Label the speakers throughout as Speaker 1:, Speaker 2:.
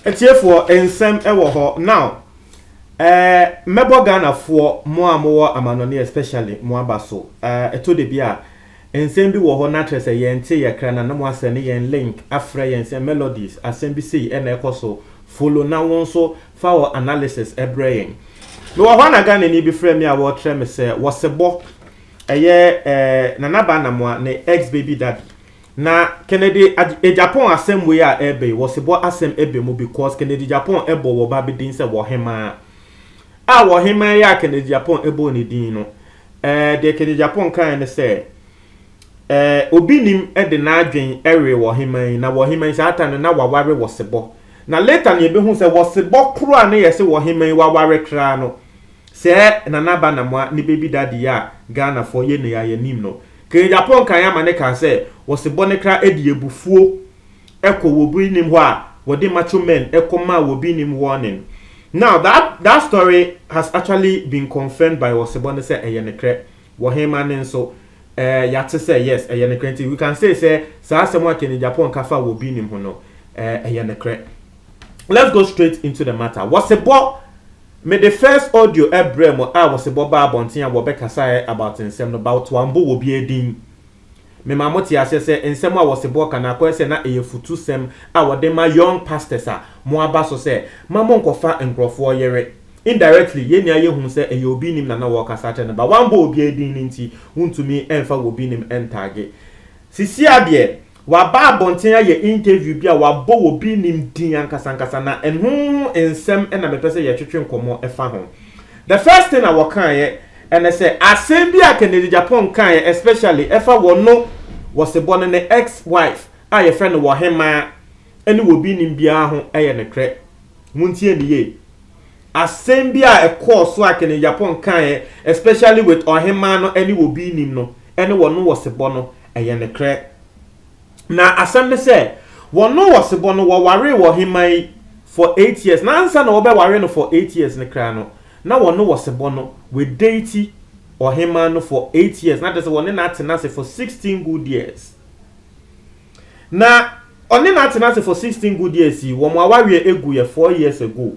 Speaker 1: atiefoɔ nsɛm wɔ hɔ now ɛɛ eh, mɛbɔ ghanafoɔ mo a mowɔ amanɔne especially mo aba so ɛɛ eh, ɛtɔ da bi a nsɛm bi wɔ hɔ na akyerɛ sɛ yɛn te yɛ kra na na mo asɛ ne yɛn link afrɛ yɛn sɛ melodies asɛm bi sei ɛna ɛkɔ so follow na wɔn nso Fa wo analysis brɛ yɛn. Mewɔ hɔ a na Ghanani bi frɛ me a wɔrekyerɛ me sɛ wɔsebɔ ɛyɛ eh, Nana Ba Namoa ne ex baby daddy. Na Kennedy eh, Japan asɛm wei a ɛreba yi wɔsebɔ asɛm ɛbɛ mu because Kennedy Japan ɛbɔ wɔ ba bi din sɛ wɔhemaa. A wɔhemaa yi a Kennedy Japan ɛbɔ ne din no, eh, deɛ Kennedy Japan kaeɛ ne sɛ eh, obi nim de n'adwen ɛwe wɔhemaa yi na wɔhemaa yi saa ta no na waware wɔsebɔ. Na later na yɛbɛhu sɛ wɔ sebɔ koro a na yɛse wɔ hema yi waware kraa no, sɛɛ Nana Aba Namoa ne baby daddy yi a Ghanafoɔ yɛ nnɛ yi a yɛnim no, Kanyapon kan ama ne kaa sɛ wɔ sebɔ no kra ɛde abufuo ɛkɔ wɔ bi nim hɔ a wɔde macho men ɛkɔ maa wɔ bi nim warning. Now that that story has actually been confirmed by wɔ sebɔ no sɛ ɛyɛ nekrɛ. Wɔ hema no nso Eh, yɛate sɛ, yes, ɛyɛ nokorɛ. Nti we can say sɛ saa asɛm a Kenny Agyapong ka fa wɔ obi nim ho no, eh, ɛyɛ nokorɛ. Let's go straight into the matter. Wɔsebɔ, mede first audio ɛbrɛɛ mo a Wɔsebɔ baa abɔnten a wɔbɛkasaeɛ about nsɛm no but wɔambo wɔbiara din. Memaa mote aseɛ sɛ nsɛm a Wɔsebɔ ka no akɔyɛ sɛ na ɛyɛ futusɛm a wɔde ma young pastors a moaba so sɛ ma monkɔfa nkorɔfoɔ yere. Indirectly, yɛn nyinaa yɛhu sɛ ɛyɛ obi nim na na wɔrekasa akyerɛ no but wambɔ obiara din no nti wontumi mfa wobi nim ntagge. Sisia deɛ, waba abɔnten ayɛ interview bi a wabɔ wobi nim din ankasa ankasa na ɛno ho nsɛm na mepɛ sɛ yɛtwetwe nkɔmmɔ fa ho. The first thing a wɔkaeɛ ne sɛ asɛm bi a Kennedy Agyapong kaeɛ especially ɛfa wɔno, Wɔsebɔ no ne ex-wife a yɛfrɛ no Wɔhemaa, ne wɔ obi nnim biara ho yɛ nokorɛ. Montie no yie. Asɛm bi a ɛkɔɔ so a Kennedy Agyapong kaeɛ especially with Ɔhemaa no ne wɔ obi nnim no ne wɔn wɔ sebɔ no, ɛyɛ nokorɛ. Na asɛm ne sɛ, wɔn wɔ sebɔ no wɔwaree wɔ Ɔhemaa yi for eight years na ansa na wɔbɛware no for eight years no koraa no, na wɔn wɔ sebɔ no wɔadate Ɔhemaa no for eight years na kyerɛ sɛ wɔne no atena ase for sixteen good years. Na ɔne no atsena ase for sixteen good years yi, wɔn awareɛ egu yɛ four years ago.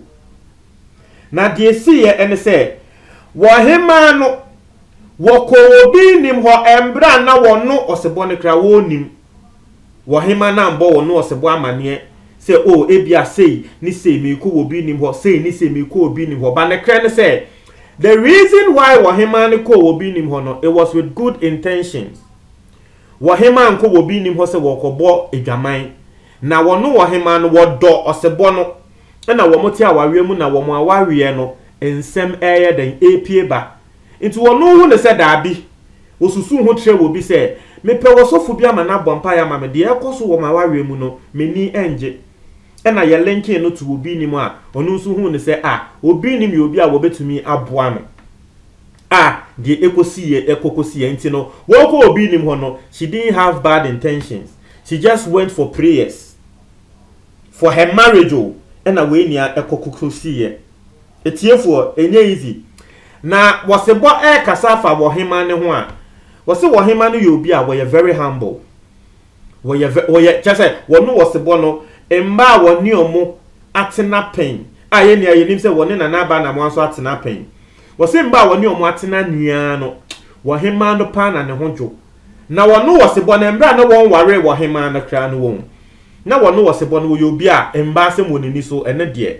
Speaker 1: Na deɛ esiiɛ ɛne sɛ, wɔhemaa no, wɔkɔɔ obi nnim hɔ, ɛmberɛ a na wɔno ɔsebɔ no koraa wɔnnim. Wɔhema no ambɔ wɔno ɔsebɔ amaneɛ sɛ o ebia sei ne sei meekɔ wɔ obi nnim hɔ, sei ne sei meekɔ obi nnim hɔ, but nekrɛ ne sɛ, the reason why wɔhemaa no kɔɔ obi nnim hɔ no, it was with good intentions. Wɔhemaa nko wɔ obi nnim hɔ sɛ wɔrekɔbɔ adwaman. Na wɔno wɔhemaa no wɔdɔ ɔsebɔ no na wɔte awareɛ mu na wɔn awareɛ no nsɛm reyɛ dɛn repue ba. Nti wɔno hu no sɛ daabi wɔsusu ho kyerɛ wɔ bi sɛ mepɛ ɔsɔfo bi ama no abɔ mpaeɛ ama me deɛ ɛrekɔ so wɔ m'awareɛ mu no m'ani nnye ɛna yɛ linking no to obi nnim a ɔno nso hu no sɛ ah obi nnim yɛ obi a wɔbɛtumi aboa no. a deɛ ɛkɔsiiɛ ɛkɔ kɔsiiɛ nti no wɔkɔ obi nim hɔ no she didn't have bad intentions she just went for prayers for her marriage o ɛna wei nea ɛkɔ kɔsiiɛ ɛtiefoɔ ɛnyɛ easy na wɔse bɔ ɛkasa afa wɔhema ne ho a wɔse wɔhema no yɛ obi a wɔyɛ very humble Wɔyɛ vɛ wɔyɛ kyerɛ sɛ wɔne ɔsebɔ no mma a wɔne wɔn atena pɛn a yɛn nyinaa yɛnim sɛ wɔne Nana Aba Anamoah nso atena pɛn. Wɔse mma a wɔne wɔn atena nyinaa no, ɔhemaa no paa na ne ho dwo. Na wɔne ɔsebɔ no, mmerɛ a na wɔnwaree ɔhemaa no koraa no wɔn, na wɔne ɔsebɔ no wɔyɛ obi a mmaa asɛm wɔ n'ani so, ɛno deɛ.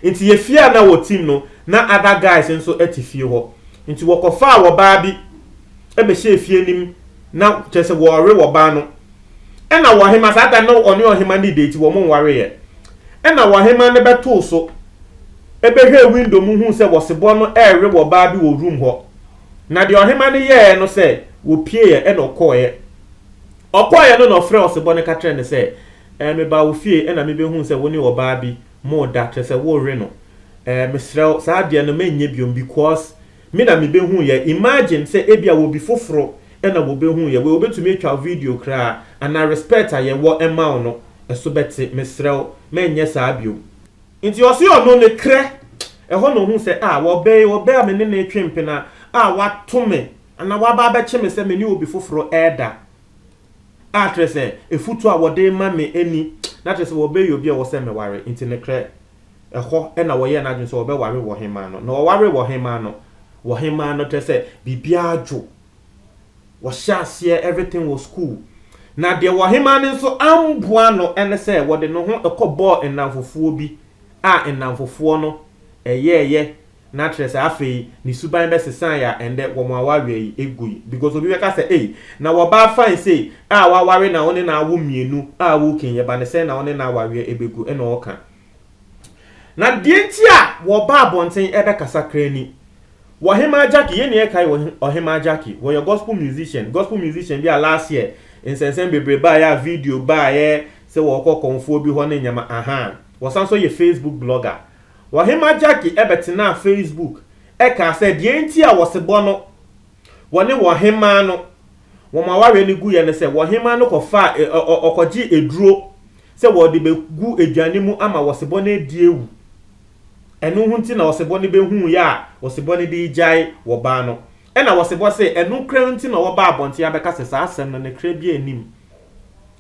Speaker 1: Nti yɛ fie a na wɔtim no, na other guys nso te fie hɔ. Nti wɔkɔfaa ɔbaa bi bɛhyɛɛ fie anim na kyerɛ sɛ wɔrewe wɔbaa no. Ɛnna ɔhemmaa, saa da no na ɔne ɔhemmaa no redate, wɔnwareeɛ. Ɛnna ɔhemmaa no bɛtoo so bɛhwɛɛ window mu huu sɛ wɔsebɔ no rewe wɔbaa bi wɔ room hɔ. Na deɛ ɔhemmaa no yɛeɛ no sɛ wɔpieeɛ ɛnna ɔkɔeɛ. Ɔkɔeɛ no na ɔfrɛɛ ɔsebɔ no ka kyerɛɛ no sɛ, Ɛɛ, mebaa wo fie ɛnna mebɛhuu sɛ wo ne ɔbaa bi moreda, kyerɛ sɛ worewe no. Ɛɛ, mesrɛ wo, saa adeɛ no mɛnyɛ biom because Me na mebehuu yɛ. Imagine sɛ ebia obi foforo na wɔbehuu yɛ. Wei wobetumi atwa wo video koraa anaa respect a yɛwɔ ma wo no so bɛte. Mesrɛ wo ma ɛnyɛ saa bio. Nti ɔse ɔno ne krɛ. Ɛhɔ na ohuu sɛ ah ɔbɛ yi, ɔbɛ a me ne no retwe mpena a wato me anaa waba abɛkye me sɛ me ne obi foforo reda a kyerɛ sɛ afutu a wɔde rema me ni na kyerɛ sɛ ɔbɛ yɛ obi a ɔwɔ sɛ meware nti ne krɛ. Ɛhɔ na wɔyɛɛ n'adwene sɛ wɔbɛware wɔ ɔhemmaa no. Na wɔwaree wɔ ɔhemmaa no. Wɔ ɔhemmaa no, kyerɛ sɛ, biribiara dwo. Wɔhyɛɛ aseɛ, everything was cool. Na deɛ wɔ ɔhemmaa no nso amboa no ne sɛ wɔde ne ho kɔbɔɔ nnamfofoɔ bi a nnamfofoɔ no yɛɛyɛ na kyerɛ sɛ afei ne suban bɛsesaeɛ a ɛndɛ wɔn awareɛ yi ɛgui. Because obi bɛka sɛ ei na wɔbaa fine sei a waware na wo ne no awo mmienu a woke yɛ ba ne sɛn na wo ne no awareɛ ɛbɛgu ɛna ɔɔka. Na deɛ nti a wɔba abɔnten bɛkasa kra ni. Ɔhemaa Jackie, yɛn nyinaa kae Ɔhemaa Jackie. Ɔyɛ gospel musician, gospel musician bi a last year nsɛnsɛm bebree baeɛ a video baeɛ sɛ ɔrekɔ kɔmfoɔ bi hɔ ne nneɛma ahaa. Ɔsan nso yɛ Facebook blogger. Ɔhemaa Jackie bɛtenaa Facebook kaa sɛ deɛ nti a wɔsebɔ no Wɔne wɔn hemaa no, wɔn awareɛ no guiɛ ne sɛ, wɔn hemaa no kɔfaa, ɔkɔgyee aduro sɛ wɔde bɛgu aduane mu ama ɔsebɔ no adi awu. Ɛno ho nti na ɔsebɔ no bɛhuuiɛ a ɔsebɔ no de regyae ɔbaa no. Ɛna ɔsebɔ se, ɛno koraa nti na wɔbaa abɔnten abɛka sɛ saa asɛm no ne kra biara nnim.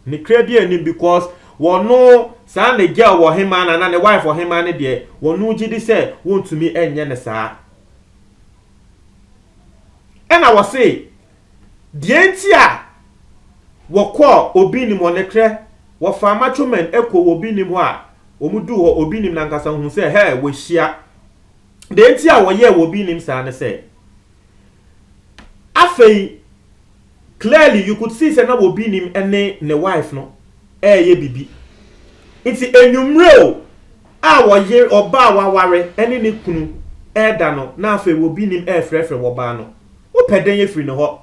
Speaker 1: Ne kra biara nnim because wɔno saa ne girl ɔhemaa no anaa ne wife ɔhemaa no deɛ, wɔno gyedi sɛ wɔntumi nyɛ no saa. Ɛna wɔse, deɛ nti a wɔkɔɔ obi nim hɔ, nokorɛ, wɔfaa macho men kɔɔ obi nim hɔ a, wɔn duu hɔ, obi nim no ankasa huu sɛ, hɛ, wɔahyia. Deɛ nti a wɔyɛɛ obi nim saa ne sɛ, afei, Clearly you could see sɛ na obi nim ne ne wife no ɛɛyɛ bibi. Nti anwumerɛ o a ɔyere, ɔbaa a waware ne ne kunu ɛɛda no na afei obi nim ɛɛfrɛfrɛ ɔbaa no. Wopɛ dɛn afiri ne hɔ?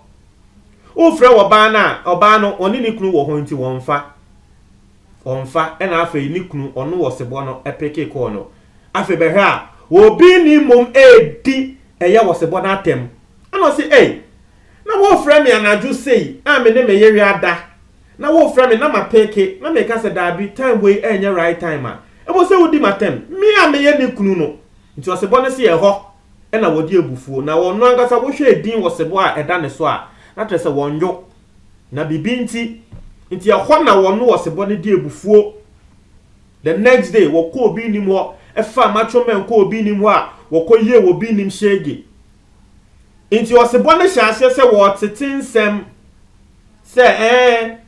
Speaker 1: Wofrɛ ɔbaa no a, ɔbaa no ɔne ne kunu wɔ hɔ nti wɔmfa. Ɔmfa ɛna afei ne kunu ɔno ɔsebɔ no peke call no. Afei bɛhwɛ a obi nim mmom ɛɛdi ɛyɛ ɔsebɔ no atɛm. Ɛna ɔse ei Na worefrɛ me anadwo sei a me ne me yere ada, na worefrɛ me na mapeke na meka sɛ daabi, time wei ɛnyɛ right time a, ɛwɔ sɛ wodi m'atɛm, me a meyɛ ne kunu no. Nti ɔsebɔ no se ɛhɔ na wɔde abufuo, na ɔno ankasa wohwɛɛ din wɔ sebɔ a ɛda ne so a, na kyerɛ sɛ wɔnnwo, na biribi nti, nti ɛhɔ na wɔno ɔsebɔ no de abufuo. The next day, wɔkɔ obi nnim hɔ, ɛfaa matwo mɛn kɔ obi nnim hɔ a, wɔkɔ yie wɔ obi nnim hyege, Enti ɔsebɔ no hyɛ aseɛ sɛ wɔtete nsɛm sɛ ɛɛ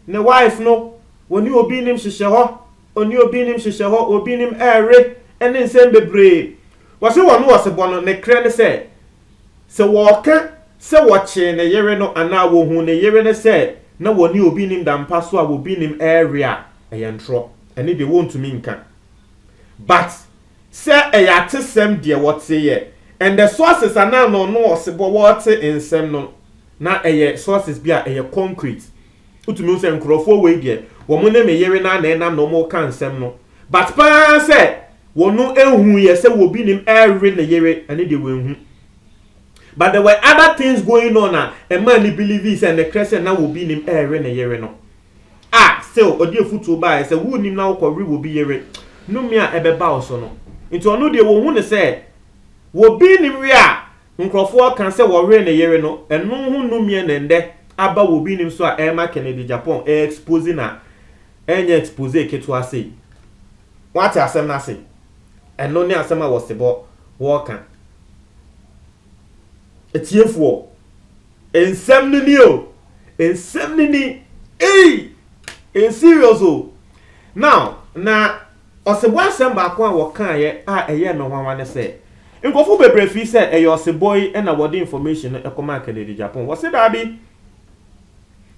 Speaker 1: ne wife no wɔne obi nim hyehyɛ hɔ ɔne obi nim hyehyɛ hɔ obi nim ɛɛre ɛne nsɛm bebree wɔse wɔn no ɔsebɔ no ne krɛ ne sɛ sɛ wɔka sɛ wɔkyee ne yere no anaa wɔhu ne yere no sɛ na wɔne obi nim dampa so a obi nim ɛɛre a ɛyɛ ntorɔ ɛne deɛ wɔntumi nka but Sɛ ɛyɛ atesɛm deɛ wɔteeɛ and the sources anaa na ɔno ɔsebɔ wɔɔte nsɛm no na ɛyɛ sources bi a ɛyɛ concrete wotumi hu sɛ nkorɔfoɔ wei deɛ wɔn ne me yere no ara na ɛnam na wɔn reka nsɛm no but paa sɛ wɔn nhuiɛ sɛ wɔbi nim ɛrewe ne yere ɛno deɛ wɔnhu but there were other things going on a ɛmaa no believe sɛ nokorɛ sɛ na wɔbi nim ɛrewe ne yere no. Ah, still, ɔde afutuo baeɛ sɛ wonnim na wokɔ we wobi yere, nome a ɛbɛba wo so no. Nti ɔno deɛ wɔhu no sɛ wobi nnim we a nkorɔfoɔ ka sɛ wɔwere ne yere no, ɛno ho nomeɛ na ɛndɛ aba wobi nnim so a ɛrema Kennedy Agyapong ɛyɛ expose na ɛnyɛ expose ketewa sei. Woate asɛm no ase? Ɛno ne asɛm a Wɔsebɔ wɔreka. Atiefoɔ, nsɛm no ni o, nsɛm no ni, ei, ɛyɛ serious o. Now, na ɔsebɔ asɛm baako a wɔkaeɛ a ɛyɛɛ me nwanwa ne sɛ, nkurɔfoɔ bebree fii sɛ ɛyɛ ɔsebɔ yi na wɔde information no kɔmaa Kennedy Agyapong. Wɔse daabi,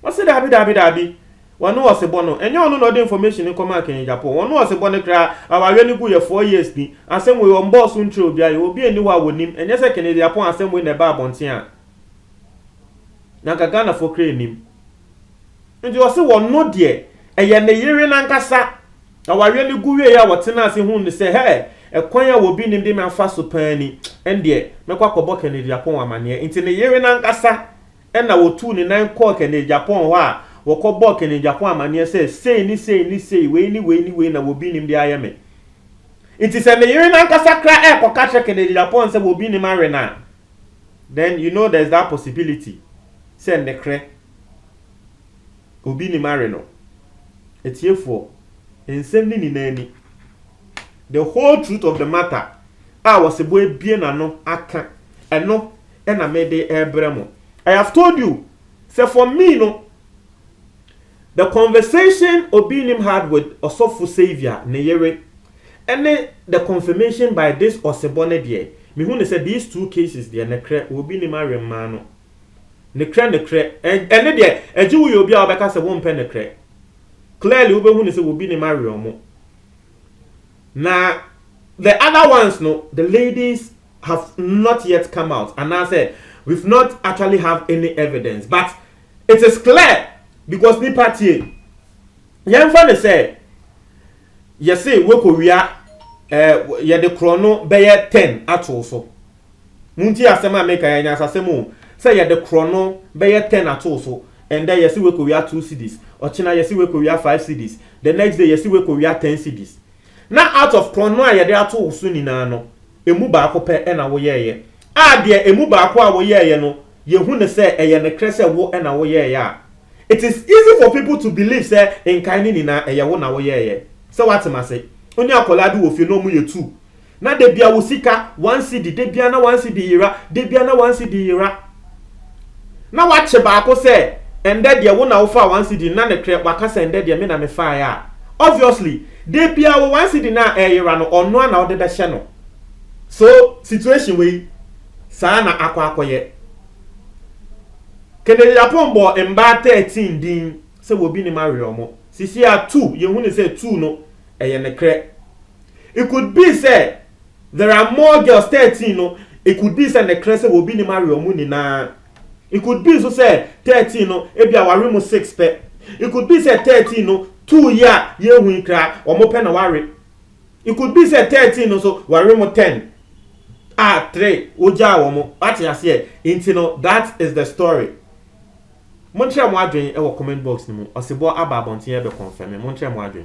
Speaker 1: Ɔse daabi daabi daabi wɔne ɔsebɔ no ɛnyɛ ɔno na ɔde information no kɔmaa Kenya Agyapong wɔne ɔsebɔ no koraa awaaeɛ no guiɛ four years ni asɛm wei ɔmbɔɔ so nkyerɛ obiara yɛwɔ obi a ɛnni hɔ a wɔnim ɛnyɛ sɛ Kenya Agyapong asɛm wei na ɛbaa abɔnten a na nka Ghanafoɔ koraa nnim nti ɔse wɔno deɛ ɛyɛ ne yere no ankasa awaaeɛ no gu wieɛ a wɔtenaa ase huu no sɛ hɛɛ ɛkwan a obi nnim de me afa so paa ni ɛndeɛ mɛkɔ akɔbɔ Kenya Agyapong amaneɛ nti ne yere no ankasa Ɛnna wɔtuu ne nan kɔɔ Kɛnɛgyapɔn hɔ a wɔkɔbɔɔ Kɛnɛgyapɔn amanneɛ sɛ, Sei ne sei ne sei, wei ne wei ne wei na wɔbinim de ayɛ me. Nti sɛ me yere no ankasa koraa rekɔka kyerɛ Kɛnɛgyapɔn sɛ wɔbinim awe no a, then you know there's that possibility sɛ nnekorɛ wɔbinim awe no. Atiefoɔ, nsɛm no nyinaa ni. The whole truth of the matter a Ɔsebɔ abue n'ano aka, ɛno na me de ɛrebrɛ mo. I have told you sɛ for me no the conversation Obinim had with Ɔsɔfo Saviour ne yere ɛne the confirmation by this Ɔsebɔ no deɛ me hu ne sɛ these two cases deɛ nekrɛ Obinim awe mmaa no nekrɛ nekrɛ ɛne deɛ ɛgye wo yɛ obi a wobɛka sɛ wompɛ nekrɛ clearly wobɛhu ne sɛ Obinim awe ɔmo. Na the other ones no, the ladies have not yet come out anaasɛ we've not actually have any evidence but it is clear because nipa tie yɛmfa ne sɛ yɛse wekɔwia eh, yɛde korɔno bɛyɛ 10 atoo so Muntie asɛm a meka yi, anyansasɛm o, sɛ yɛde korɔno bɛyɛ ten atoo so, ɛndɛ yɛse wekowia two cedis, ɔkyena yɛse wekowia five cedis, the next day yɛse wekowia ten cedis. Na out of korɔno a yɛde ato wo so nyinaa no, ɛmu baako pɛ na woyɛeɛ, a deɛ ɛmu baako a woyɛeɛ no yɛhu no sɛ ɛyɛ nokorɛ sɛ wo na woyɛeɛ a, it is easy for people to believe sɛ nkae no nyinaa ɛyɛ wo na woyɛeɛ. Sɛ woate m'ase? Wo ne akwadaa bi wɔ fie na wɔyɛ two, Na da bia wo sika one cedi da bia na one cedi yera da bia na one cedi yera na wakye baako sɛ ɛndɛ deɛ wo na wo faa one cedi no na nekrɛ waka sɛ ɛndɛ deɛ me na me faeɛ a obviously da bia wo one cedi no a ɛyera no ɔno a na wode bɛhyɛ no. So situation wei saa na akɔ akɔyɛ. Kennedy Aponn bɔɔ mbaa thirteen din sɛ wɔbi nim awerɛ ɔmo. Sisi a two yɛhu no sɛ two no ɛyɛ nekrɛ It could be sɛ there are more girls thirteen no it could be sɛ nɛkrɛ sɛ obi nim awre ɔmo nyinaa it could be nso sɛ thirteen no ebia w'awre mo six pɛ it could be sɛ thirteen no two yi a yɛrehu yi kraa ɔmo pɛ na w'awre it could be sɛ thirteen no nso w'awre mo ten a three wogyaa wɔn wate aseɛ nti no that is the story monkyerɛ mo adwen wɔ comment box no mu ɔsebɔ aba abɔnten ɛbɛ confirm monkyerɛ mo adwen.